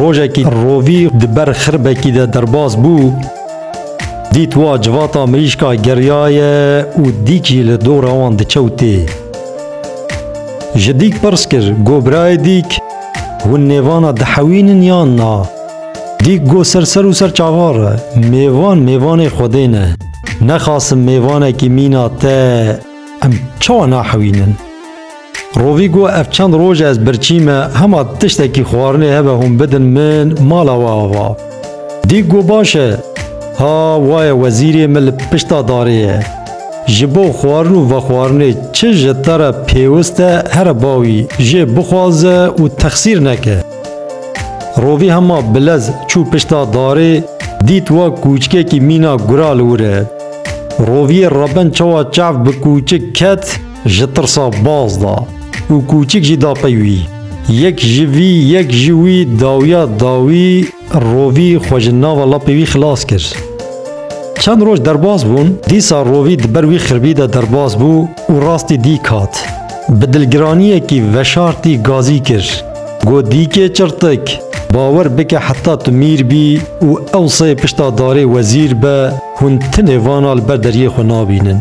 Rojekî rovî di ber xirbekî de derbas bû, dît wa civata mirîşka geriyaye û dîk jî li dora wan dikewtê. Ji dîk pirs kir, go birayê dîk, hûn nêvana dihewînin yan na? Dîk go ser ser û ser çavar e, mêvan mêvanê Xwedê ne. Nexasim mêvanekî mîna te em çawa nahewînin? Rovî got ev çend roj e ez birçî me, hema tiştekî xwarinê hebe hûn bidin min mala we ava. Dîk got baş e, ha waye wezîrê min li pişta darê ye. Ji bo xwarin û vexwarinê çi ji te re pêwist e here bawî jê bixwaze û texsîr neke. Rovî hema bilez çû pişta darê dît wek kûçikekî mîna gura li wir e. Roviyê rebend çawa çav bi kûçik ket, Ji tirsa baz da û kûçik jî da pey wî. Yek ji vî yek ji wî dawiya dawî rovî xwe ji nava lapê wî xilas kir. Çend roj derbas bûn, dîsa rovî di ber wî xirbî de derbas bû û rastî dîk hat. Bi dilgiraniyekî veşartî gazî kir. Got dîkê çirtik, bawer bike heta tu mîr bî û ew sey pişta darê wezîr be, hûn tinê vana li ber deriyê xwe nabînin.